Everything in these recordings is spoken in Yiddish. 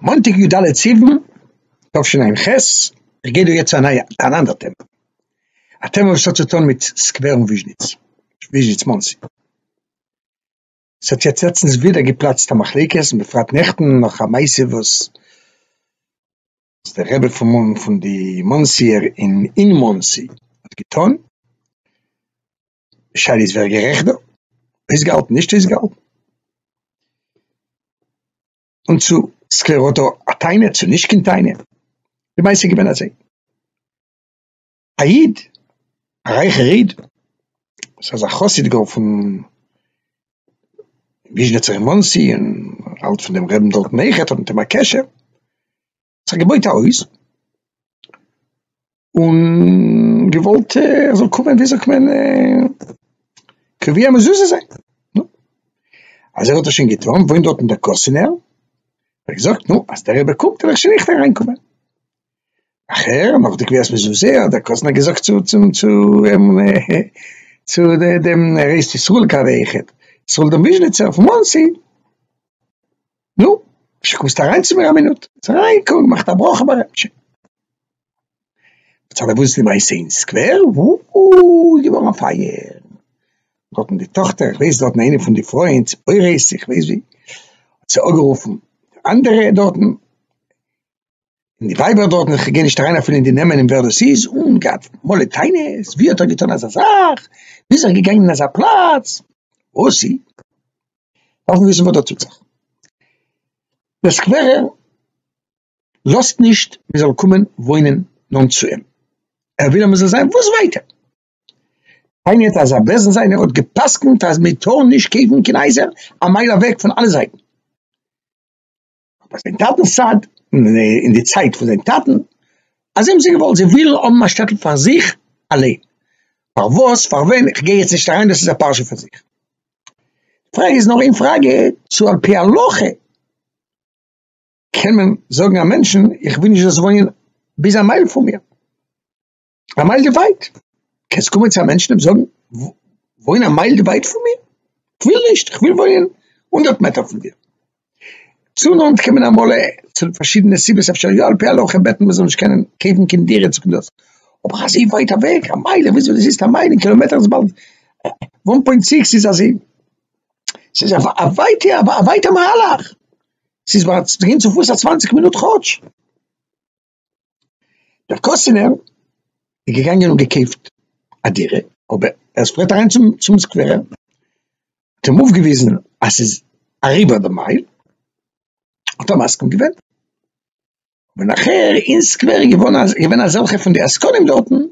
מאנטאג יו ד סיוון תשע"ח, איך גיי דא יעצט א נייע אן אנדער טעמע, א טעמע וואס האט צו טון מיט סקווער און וויזשניץ, וויזשניץ מאנסי, ס'האט יעצט לעצטנס ווידער געפלאצט א מחלוקת און בפרט נעכטן נאך א מעשה וואס די רבי פון די מאנסיער אין מאנסי האט געטון, די שאלה איז ווער גערעכט דא, אויסגעהאלטן נישט אויסגעהאלטן, און צו סקלעראטא א טענה צו נישט קיין טענה, די מעשה איז געווען אזוי, א איד א רייכער איד וואס איז א חסיד גאר פון וויזשניצער אין מאנסי און האלט פון דעם רעבן דארטן אויכעט האט מיט אים א קשר, זיך געבויט א הויז, און געוואלט ער זאל קומען ווי זאגט מען קובע מזוזה זיין, נו, אז ער האט עס שוין געטון וואוינט דארטן דער קאסינער, האט ער געזאגט נו אז דער רבי קומט וועל איך שוין אויכט אריין קומען, נאכער נאך די קביעת מזוזה האט דער קאסינער געזאגט צו צום צו אים צו דעם ר' ישראל קאווע אויכעט, ישראל דעם וויזשניצער פון מאנסי, נו, רבשע קומסט אריין צו מיר א מינוט? איז ער אריין געקומען געמאכט א ברכה ביי רבשע. בצד וואס איז די מעשה אין סקווער? וואו איז געווארן א פייער, דארטן די טאכטער, איך ווייס דארטן איינע פון די פרויען ציפורת איך ווייס ווי, האט זי אגערופן אנדערע דארטן, און די ווייבער דארטן, איך גיי נישט אריין אפילו אין די נעמען און ווער דאס איז, און געהאט מלא טענות, ווי האט ער געטון אזא זאך, ווי איז ער געגאנגען אין אזא פלאץ, וואסי, דארף מען וויסן וואס דא טוט זיך. דער סקווערער לאזט נישט מען זאל קומען וואוינען נאנט צו אים, ער וויל אז מען זאל זיין וואס ווייטער, פיינער האט אזא בעסען זיין, ער האט גע'פסק'נט אז מען טאר נישט קויפן קיין הייזער א מייל אוועק פון אלע זייטן. ביי זיין טאטנ'ס צד, אין די צייט פון זיין טאטן, אז זיי האבן זיך געוואלט, זיי ווילן האבן א שטעטל פאר זיך אליין, פארוואס, פארווען, איך גיי יעצט נישט אריין, דאס איז א פרשה פאר זיך. די פראגע איז נאר איין פראגע, צו על פי הלכה קען מען זאגן א מענטשן, איך וויל נישט זאלסט וואוינען ביז א מייל פון מיר. א מייל די ווייט, קענסט קומען צו א מענטשן אים זאגן וואוין א מייל די ווייט פון מיר, כ'וויל נישט, כ'וויל וואוינען הונדערט מעטער פון דיר. צו נאנט קען מען אמאל צו פארשידענע סיבות אפשר יא על פי הלכה בעטן מ'זאל נישט קענען קעיוון קיין דירה צו קדאס, אבער אזוי ווייט אוועק א מייל, וויאזוי דאס איז א מייל אין קילאמעטער איז באלד וואן פוינט סיקס איז אזוי, ס'איז א ווייטע א ווייטע מהלך, ס'איז צו גיין צופיס א צוואנציג מינוט כאטש. דער קאסינער איז געגאנגען און געקויפט א דירה, אבער ער איז פארט אריין צום צום סקווערער, האט אים אויפגעוויזן אז ס'איז אריבער די מייל, האט ער מסכים געווען, און נאכער אין סקווער איז געווארן אז געווען אזעלכע פון די עסקנים דארטן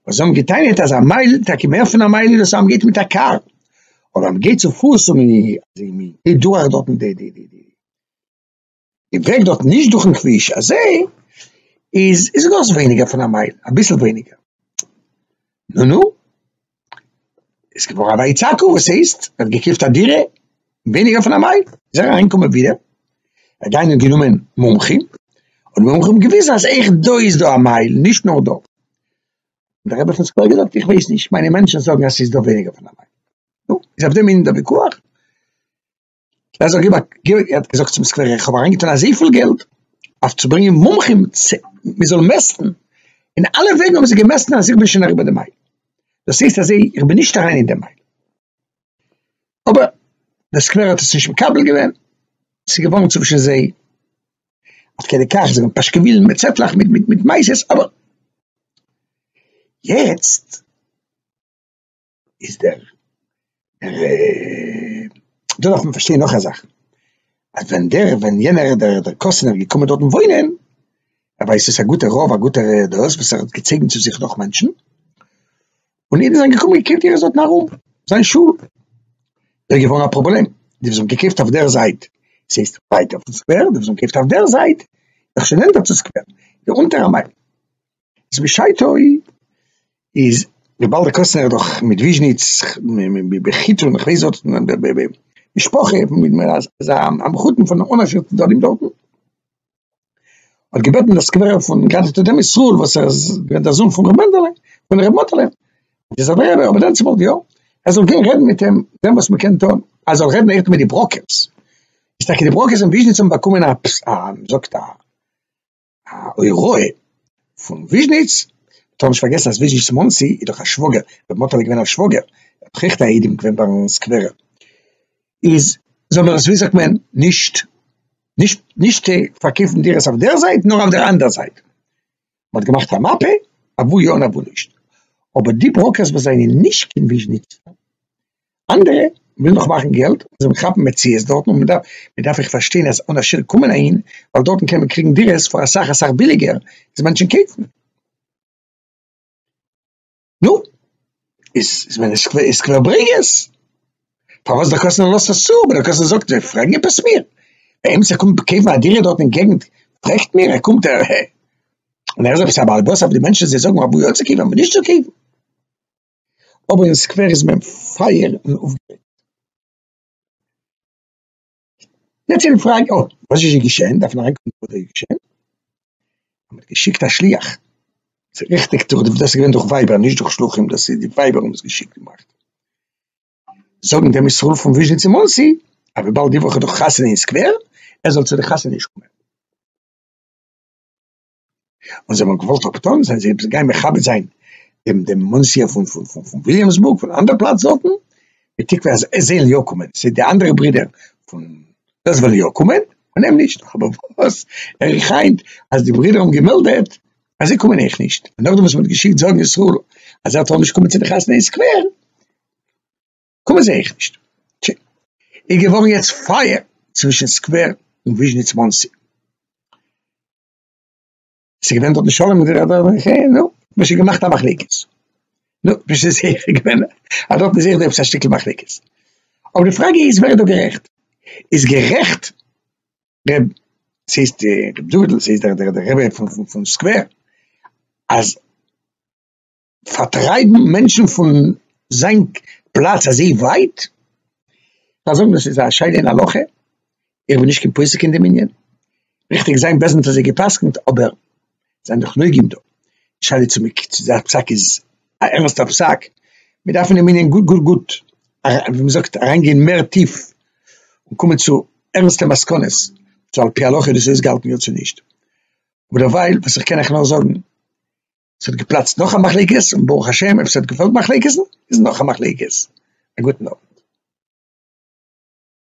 וואס האבן געטענה'ט אז א מייל, טאקע מער פון א מייל, איז וואס אז מ'גייט מיט א קאר, אבער אז מ'גייט צופוס און מ'גייט דורך דארטן די די די די. די וועג דארט נישט דורכן כביש הזה איז איז גאר ס'איז ווייניגער פון א מייל אביסל ווייניגער נו נו איז געווארן א ויצעקו וואס הייסט ער האט געקויפט א דירה ווייניגער פון א מייל איז ער אהיים געקומען ווידער ער האט דיין גענומען מומחים און מומחים האבן געוויזן אז עכט דא איז דא א מייל נישט נאר דא דער רבי פון סקווער האט געזאגט איך ווייס נישט מיינע מענטשן זאגן אז ס'איז דא ווייניגער פון א מייל נו איז אויף דעם ענין דער וויכוח. ער האט זיך געבאקט, ער האט געזאגט צום סקווערער איך האב אריינגעטון אזויפיל געלט אויף צו ברענגען מומחים מען זאל מעסטן, און אלע וועגן האבן זיי געמעסטן אז איך בין שוין אריבער די מייל, דאס הייסט אז זיי, איך בין נישט אריין אין די מייל, אבער דער סקווערער האט עס נישט מקבל געווען, ס'איז געווארן צווישן זיי עד כדי כך, זיי האבן פאשקעווילן מיט צעטלעך מיט מעשה'ס, אבער יעצט. איז דער דער דא דארף מען פארשטיין נאך א זאך אז ווען דער ווען יענער דער דער קאסינער איז געקומען דארטן וואוינען ער ווייסט עס א גוטער רב א גוטער דאס וואס ער האט געצויגן צו זיך נאך מענטשן און אידן זענען געקומען געקויפט אירע זאטן ארום זיין שול דער געווארן א פראבלעם די וואס האבן געקויפט אויף דער זייט עס הייסט ווייטער פון סקווער די וואס האבן געקויפט אויף דער זייט נאך שוין נענטער צו סקווער די אונטער א מייל איז בשעתו איז רבי אלטר קאסטנער איז דאך מיט וויזשניץ בחיתון איך ווייס דארט משפחה איז א מחותן פון אן עשיר צדדים דארטן האט געבעטן די סקווערער פון גאנץ גדולי ישראל וואס ער איז געווען דער זון פון רבי מענדעלע פון רבי מאטעלע איז ער דער רבי דענציגער יא ער זאל גיין רעדן מיט אים זען וואס מען קען טון ער זאל רעדן אויך מיט די בראקערס איז טאקע די בראקערס אין וויזשניץ האבן באקומען א וויזאגט א. א הוראה פון וויזשניץ, מ'טאר נישט פארגעסן אז וויזשניץ מאנסי איז דאך א שוואגער, רבי מאטעלע איז געווען א שוואגער, ער האט העכטע איידים געווען ביי סקווערע, איז זאל מען עס ווי זאגט מען נישט נישט נישט פארקויפן דירות אויף דער זייט נאר אויף דער אנדער זייט, מ'האט געמאכט א מאפע אוואו יא און אוואו נישט, אבער די בראקערס וואס זענען נישט קיין וויזשניץ אנדערע ווילן נאך מאכן געלט און זיי ווילן כאפן מציאות דארטן און מען דארף אויך פארשטיין אז אן עשירים קומען אהין ווייל דארטן קען מען קריגן דירות פאר אסאך אסאך ביליגער איז מענטשן קויפן נו איז איז ווען עס איז סקווער ברענג עס פארוואס דער קאסטנער לאזט עס צו אבער דער קאסטנער זאגט זיי פרעגן עפעס מיר דער איימיצער קומט קויפן א דירה דארט אין געגנט פרעגט מיר ער קומט ער און ער איז עפעס א בעל הבית אויף די מענטשן זיי זאגן אויב יא צו קויפן אויב נישט צו קויפן. אבער אין סקווער איז מען פייער און אויפגערעגט. יעצט איז די פראגע, אוי, וואס איז געשען? דארף מען אריינקוקן וואס איז געשען. מען האט געשיקט א שליח, ס'איז ריכטיג דאס איז געווען דורך ווייבער נישט דורך שלוחים, דאס איז די ווייבער האבן עס געשיקט און געמאכט, זאגן דעם ישראל פון וויזשניץ און מאנסי אז וויבאלד די וואך איז דא חתונה אין סקווער, ער זאל צו די חתונה נישט קומען. און זיי האבן געוואלט אפטון זיין זיי גיין מכבד זיין דעם דעם מאנסיער פון פון פון פון וויליאמסבורג פון אנדערע פלאץ דארטן, בתקווה אז זיי זאלן יא קומען, ס'איז די אנדערע ברידער פון דאס וועלן יא קומען, און אים נישט, אבער וואס הער איך היינט אז די ברידער האבן געמעלדעט אז זיי קומען אויך נישט, און נאכדעם וואס מען האט געשיקט זאגן ישראל אז ער טאר נישט קומען צו די חתונה אין סקווער, קומען זיי אויך נישט. טשי. איז געווארן יעצט פייער צווישן סקווער און וויזשניץ מאנסי. איז געווען דארט נישט שלום מיט די רבי אבער חיי נו, מ'האט שוין געמאכט א מחלוקת, נו, נישט איז זיכער געווען אז דארט איז זיכער דא עפעס א שטיקל מחלוקת, אבער די פראגע איז ווער איז דא גערעכט, איז גערעכט ר' ס'הייסט ר' דוד'ל ס'איז דער רבי פון סקווער אז. פארטרייבן מענטשן פון זיין פלאץ אזוי ווייט? דארף זאגן דאס איז א שאלה אין הלכה, איך בין נישט קיין פוסק אין דעם ענין, ריכטיג זיין בעסט ווען מען האט אזוי גע'פסק'נט, אבער זיין דאך נוגעים דא, די שאלה צו מען צו זיין פסק איז א ערנסטע פסק, מען דארף אין דעם ענין גוט גוט גוט ווי מען זאגט אריין גיין מער טיף און קומען צו ערנסטע מסקנות צו על פי הלכה איז דאס אויסגעהאלטן יא צו נישט, אבער דערווייל וואס איך קען אייך נאר זאגן. ס'האט געפלאצט נאך א מחלוקת, און ברוך השם אויב ס'האט געפאלגט מחלוקת'ן איז נאך א מחלוקת. א גוטן אוונט.